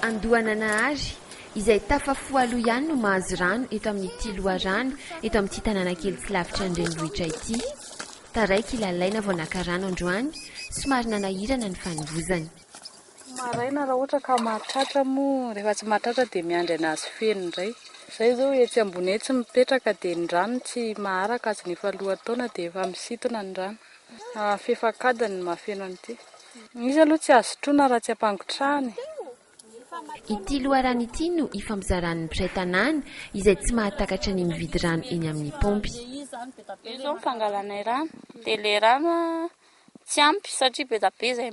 Andohananahary, izay tafafo aloha ihany no mahazo rano eto amin'ity loharano eto amin'ity tanàna kely tsy lavitra ny renivohitra ity. Taraiky i Lalaina vao naka rano androany, somary nanahirana ny fanovozany. Maraina raha ohatra ka mahatratra moa, rehefa tsy mahatratra dia miandry an'azy feno indray. Izahay izao etsy ambony etsy mipetraka dia ny rano tsy maharaka azy ny efa lohataona dia efa misintona ny rano. Fefak'adiny ny mahafeno an'ity. Izy aloha tsy azo sotroina raha tsy ampangotrahana e! Ity loharano ity no ifampizaran'ny mpiray tanàna izay tsy mahatakatra ny mividy rano eny amin'ny paompy. Io izao ny fangalanay rano dia ilay rano tsy ampy satria be dia be izay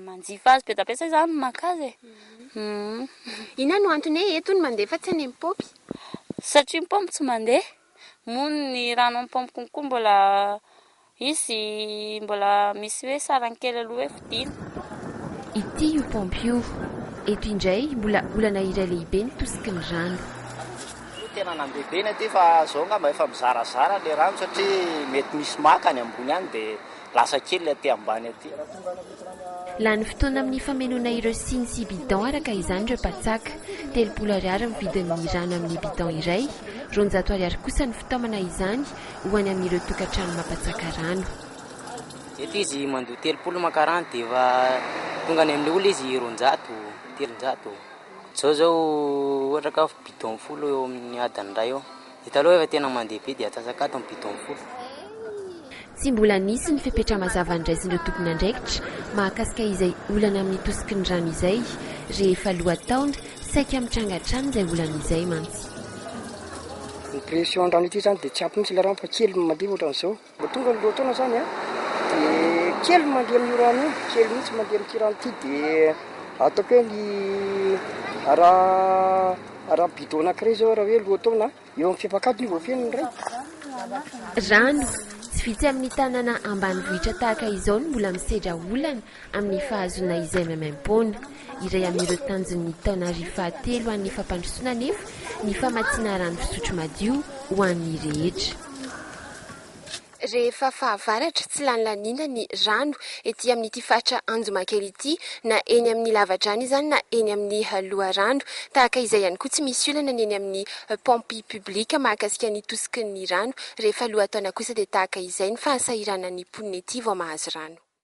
manjifa azy, be dia be izay izany no maka azy e! Inona no antony hoe eto no mandeha fa tsy any amin'ny paompy? Satria ny paompy tsy mandeha. mono ny rano amin'ny paompy konko mbola izy mbola misy hoe sarany kely aloha hoe fodiana. Ity io paompy io. Eto indray mbola olana iray lehibe ny tosiky ny rano. Io tena nambebena ity fa zao ngamba efa mizarazara le rano satria mety misy maka any ambony any dia Lasa kely aty ambany aty. Lany fotoana amin'ny famenoana ireo siny sy bidon araka izany ireo mpatsaka. Telopolo ariary ny vidin'ny rano amin'ny bidon iray, roanjato ariary kosa ny fitaomana izany ho any amin'ireo tokantrano mampatsaka rano. Eto izy mandoa telopolo maka rano dia efa tonga any amin'ny olona izy roanjato, telonjato. Izao izao ohatra ka bidon folo eo amin'ny adiny iray eo. Io taloha efa tena mandeha be dia atsatsakanto ny bidon fotsy. Tsy mbola nisy ny fepetra mazava andraisin'ireo tompon'andraikitra mahakasika izay olana amin'ny tosiky ny rano izay rehefa lohataona, saika mitranga hatrany izay olana izay mantsy. Ny pression an-drano ity izany dia tsy ampy mihitsy ilay rano fa kely mandeha ohatran'izao. Vao tonga ny lohataona izany an, dia kely ny mandeha amin'io rano io, kely mihitsy ny mandeha amin'ity rano ity, dia ataoko hoe ny araha araha bidon anankiray izao raha hoe lohataona an, eo amin'ny fiapakadiny io vao feno ny iray. Rano, Tsy vitsy amin'ny tanàna ambanivohitra tahaka izao no mbola misedra olana. amin'ny fahazoana izay maimaim-poana. Iray amin'ireo tanjon'ny taonary fahatelo ho an'ny fampandrosoana anefa ny famatsiana rano fisotro madio ho an'ny rehetra. Rehefa fahavaratra, tsy lany laniana ny rano ety amin'ity faritra Anjomakely ity, na eny amin'ny lavadrano izany na eny amin'ny loharano. Tahaka izay ihany koa tsy misy olana ny eny amin'ny pompes publiques mahakasika ny tosikin'ny rano. Rehefa lohataona kosa dia tahaka izay ny fahasahiranan'ny mponina ety vao mahazo rano.